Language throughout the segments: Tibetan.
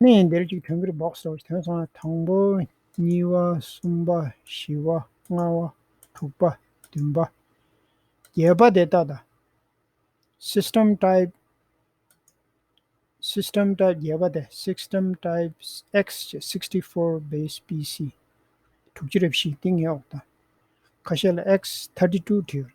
གནས་ཡིན་འདིར་གཅིག་དོན་གྱིར་འབོགས་སོ་དོན་སོང་ན་དང་པོ། གཉིས་པ་གསུམ་པ་བཞི་བ་ལྔ་བ་དྲུག་པ་བདུན་པ་བརྒྱད་པ་དེ་ལྟ་དང། System Type System Type བརྒྱད་པ་དེ System Type X ཅེས་སིཀསྟི་ཕོར Base PC དྲུག་ཅུ་རེ་བཞི་ཏིང་ངེ་འོག་དང། ཁ་ཤས་ལ X ཐཱར་ཏི་ཏུ་བྲི་ཡོད།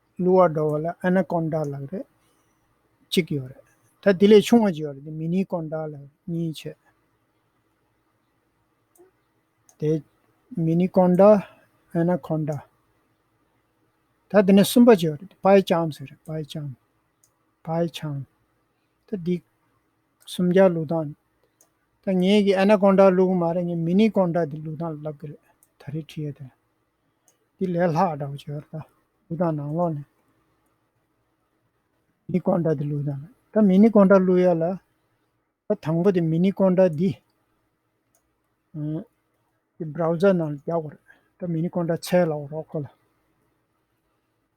གླུ་བ་འགྲོ་བ་ལ་ཨ་ན་ཀོན་ཏཱ་ལགས་རེད། གཅིག་ཡོད་རེད། ད་དེ་ལས་ཆུང་བ་ཅིག་ཡོད་རེད་དེ་མི་ནི་ཀོན་ཏཱ་ལགས་རེད་གཉིས་ཆད། དེ་མི་ནི་ཀོན་ཏཱ་ཨ་ན་ཀོན་ཏཱ། ད་དེ་ནས་གསུམ་པ་ཅིག་ཡོད་རེད་དེ་པའེ་ཅང་ཟེར་རེད་པའེ་ཅང། Bai Chang། ད་འདི་སུམ་བརྒྱ་གླུ་དང། ད་ངེད་ཀྱི་ཨ་ན་ཀོན་ཏཱ་གླུ་གུ་མ་རེད་ངས་མི་ནི་ཀོན་ཏཱ་དེ་གླུ་དང་ལབ་གི་རེད་ད་རེ་ཁྲི་ཡོད་དེ། འདི་ལས་ལྷག་འདྲ་བོ་བྱོས་ད། ལུས་དང་ནང་ལོགས་ནས། མི་ཀོང་འདྲ་འདི་ལུས་དང། ད་མི་ནི་ཀོང་འདྲ་ལུས་ཡ་ལ། ད་དང་པོ་དེ་མི་ནི་ཀོང་འདྲ་འདི། འདི Browser ནང་རྒྱག་པར། ད་མི་ནི་ཀོང་འདྲ་ཚལ་ལ་འོ་རོགས་ཁོ་ལ།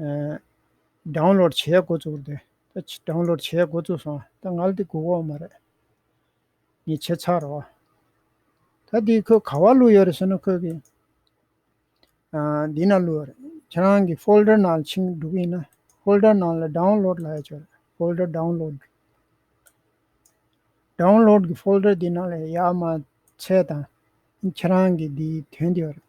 སྦྲང་ལོར་བྱས་འགོ་བཙུགས་ཏེ། སྦྲང་ལོར་བྱས་འགོ་བཙུགས་སོང་ད་ང་ལ་དེ་སྒུག་འོང་མ་རེད། ངས་བྱས་ཚར་རོགས། ད་དེ་ཁོས་ག་བ་བླུགས་ཡོད་རེད་ཟེར་ན་ཁོས་གི། འདི་ན་བླུགས་ཡོད་རེད་ཁྱེད་རང་གི Folder ནང་ལ་ཕྱིན་འགྲོ་གི་ཡིན་ན Folder ནང་ལ Download ལ་ཡོད་ཆོག་རེད Folder Download Download གི Folder དེ་ནང་ལ་ཡར་མར་འཚལ་དང་ཁྱེད་རང་གི་དེའི་དོན་དེ་ཡོད་རེད།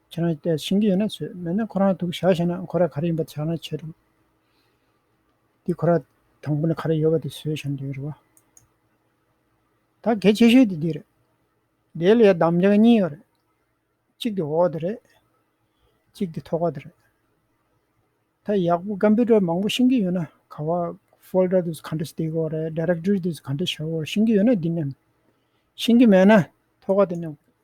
ཁྱེད་རང་བལྟས་ཤེས་ཀྱི་ཡོད་ན་བཟོས། མེད་ན་ཁོ་རང་ཐུག་བཞག་བྱས་ན་ཁོ་ར་ག་རེ་ཡིན་པ་ཆགས་ན་ཆད་འགྲོ། དེ་ཁོ་ར་དང་པོ་ནས་ག་རེ་ཡོད་པ་དེ་བཟོས་བྱས་ན་འདོད་ཡོད་རེད་བ། ད་གལ་ཆེ་ཤོས་དེ་འདི་རེད། དེའི་ལས་གདམ་བྱ་གཉིས་ཡོད་རེད། གཅིག་དེ་འོག་དེ་རེད། གཅིག་དེ་ཐོག་ཁ་དེ་རེད། ད་ཡག་པོ Computer མང་པོ་ཤེས་ཀྱི་ཡོད་ན་ག་བ Folder དེ་ཚོ་ག་འདྲ་སྟེག་འོག་རེད Directory དེ་ཚོ་ག་འདྲ་བྱ་འོག་ཤེས་ཀྱི་ཡོད་ན་འདི་ནས། ཤེས་ཀྱི་མེད་ན་ཐོག་ཁ་དེ་ནས།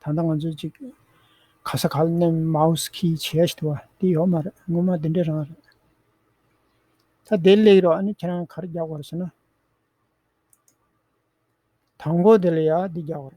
ད་ལྟ་ང་ཚོས་ཅིག་ག་ས་ག་ལ་ནས་མའོས་ཁི་བྱས་ཞེས་བྲི་བ་དེ་ཡོད་མ་རེད་སྔོན་མ་དེ་འདྲའི་རང་རེད། ད་བདེ་ལེགས་རོགས་ཨ་ནི་ཁྱེད་རང་གར་རྒྱག་པར་བྱེད་ན། དང་པོ་དེ་ལ་ཡ་འདི་རྒྱག་པར།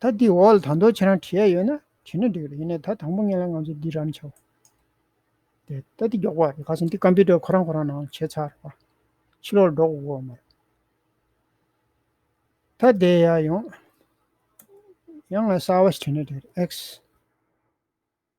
ད་འདིའི་འོག་ལ་དང་ཐོག་ཁྱེད་རང་བྲིས་ཡ་ཡོད་ན་བྲིས་ན་འགྲིག་རེད་ཡིན་ནའི་ད་དང་པོ་ངེད་ལ་ང་ཚོ་འདི་རང་བྱའོ། དེ་ད་འདི་མགྱོགས་པོ་རེད་ག་སོང་འདི་ཀམ་པི་ཏར་ཁོ་རང་ཁོ་རང་ནང་བྱས་ཚར་རེད་པ། ཕྱི་ལོག་ལ་འགྲོ་དགོས་དགོས་མ་རེད། ད་བསྡད་ཡ་ཡོང། ཡང་ང་གསར་བ་ཞིག་བྲིས་ན་འགྲིག་རེད X།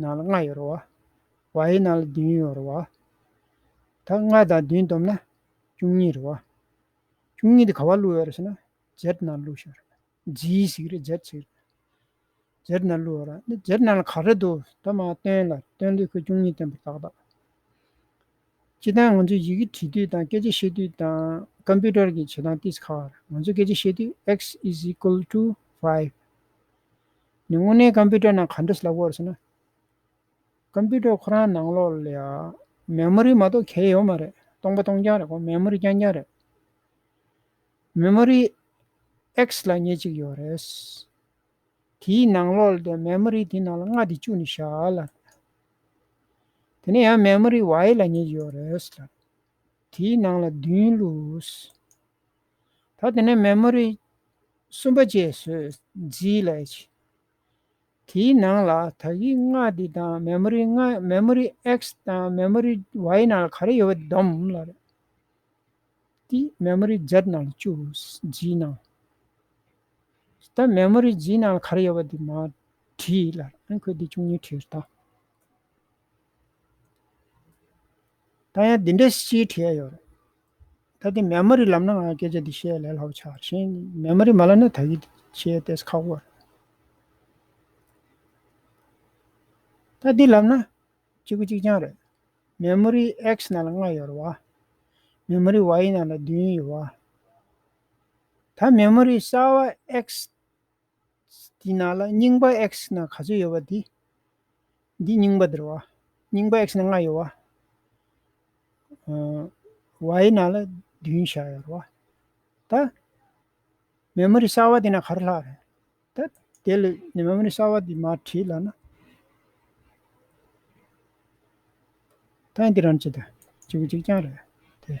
ནང་ལ་ལྔ་ཡོད་རོ། བའི་ནང་ལ་བདུན་ཡོད་རོ། ད་ལྔ་དང་བདུན་བསྡོམས་ན་བཅུ་གཉིས་རོ། བཅུ་གཉིས་དེ་ག་བ་བླུག་ཡོད་རེད་ཟེར་ན་བརྒྱད་ནང་ལ་བླུག་ཤོག་རེད། བརྒྱད་ཞིག་རེད་བརྒྱད་ཅིག་རེད། བརྒྱད་ནང་ལ་བླུག་ཡོད་རེད། དེ་བརྒྱད་ནང་ལ་ག་རེ་འདུག་ད་མ་སྟོན་ལ། སྟོན་དུས་ཁོས་བཅུ་གཉིས་སྟོན་པར་ཏག་ཏག། སྤྱི་བཏང་ང་ཚོས་ཡི་གེ་བྲིས་དུས་དང་སྐད་ཆ་བཤད་དུས་དང་ཀམ་པི་ཏར་གྱི་བྱེད་སྟངས་ཏིས་ཁ་བར་ང་ཚོས་སྐད་ཆ་བཤད་དུས X is equal to five། ནི་དངོས་གནས་ཀམ་པུ་ཏར་ནང་ག་འདྲ་སླ་བོར་སོང་ན། ཀམ་པུ་ཏར་ཁོ་རང་ནང་ལོགས་ལ་མེ་མོ་རི་མ་གཏོགས་གལ་ཡོད་མ་རེད། སྟོང་པ་སྟོང་རྐྱང་རེད་གོ་མེ་མོ་རི་རྐྱང་རྐྱང་རེད། མེ་མོ་རི X ལ་ཉེ་གཅིག་ཡོད་རེད། དེའི་ནང་ལོགས་ལ་དེ་མེ་མོ་རི་དེའི་ནང་ལ་མངགས་ཏེ་བཅུག་ནས་བཞག་ལ། དེ་ནས་ཡང་མེ་མོ་རི Y ལ་ཉེ་གཅིག་ཡོད་རེད། དེའི་ནང་ལ་བདུན་བླུགས། ད་དེ་ནས་མེ་མོ་རི་གསུམ་པ་བཅས་སུ་བརྫིས་ལས། དེའི་ནང་ལ་ད་གིའི་སྔགས་འདི་དང་མེ་མོ་རི་ལྔ་མེ་མོ་རི X དང་མེ་མོ་རི Y ནང་ལ་ག་རེ་ཡོད་པ་དེ་བསྡོམ། དེ་མེ་མོ་རི Z ནང་ལ་བཅུག་བརྫིས་ནང། ད་མེ་མོ་རི་བརྫིས་ནང་ལ་ག་རེ་ཡོད་པ་དེ་མ་བྲིས། ཁོས་དེ་བཅུ་གཉིས་བྲིས། ད་ཡང་འདི་འདྲའི་སྤྱིའི་ཁྲིད་ཡ་ཡོད་རེད། ད་དེ་མེན་མ་རི་ལབ་ན་ང་སྐད་ཆ་འདི་བཤད་ལས་ལྷག་ཆགས་ཤིང་མེན་མ་རི་མ་ལབ་ན་ད་གི་ཆེ་ལྟས་ཁག་པོ་རེད། ད་འདི་ལབ་ན་གཅིག་པུ་གཅིག་རྐྱང་རེད། མེན་མ་རི X ནང་ལ་ལྔ་ཡོད་རེད་བ། མེན་མ་རི Y ནང་ལ་བདུན་ཡོད་བ། ད་མེན་མ་རི་གསར་བ X དེའི་ནང་ལ་རྙིང་པ X ན་ག་ཚོད་ཡོད་པ་དེ། འདི་རྙིང་པ་འདིར་བ། རྙིང་པ X ན་ལྔ་ཡོད་བ། Y ན་ལ་བདུན་བཞག་ཡོད་བ། ད། མེ་མོ་རི་གསར་བ་དེ་ན་ག་རེ་ལྷག་རེད། ད། དེ་ལས་མེ་མོ་རི་གསར་བ་དེ་མར་བྲིས་ལ་ན། ད་འདི་རང་ཅི་ད་ཅིག་པོ་ཅིག་རྐྱང་རེད་དེ།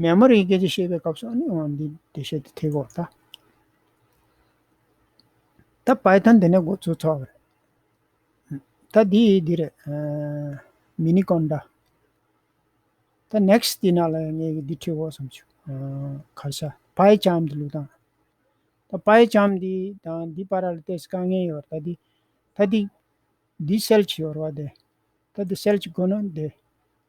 མེ་མོར་ཡི་གེ་ཅི་ཞེས་པའི་སྐབས་སུ་ནི་འོང་བ་འདི་བདེ་གཤེགས་ཏེ་ཐིག་གོ། ད་པཱི་ཐན་དེ་ནས་སྒོ་ཚུགས་ཚོགས་རེད། ད་འདི་ཡི་འདི་རེད། མི་ནི་ཀོན་ཏཱ། ད next དེ་ན་ལ་ངེས་ཀྱི་འདི་ཐིག་གོ་བསམ་བྱུང། གར་ཤ་པཱི་ལྕམ་འདི་ལུགས་དང། ད་པཱི་ལྕམ་འདི་དང་འདི་པཱ་ར་ལ་ཏེས་དཀའ་ངལ་ཡོད་པར་ད་འདི། ད་འདི། འདི་སེལ་གྱི་ཡོད་རོ་བ་འདི། ད་འདི་སེལ་གྱི་དགོས་ན་འདི།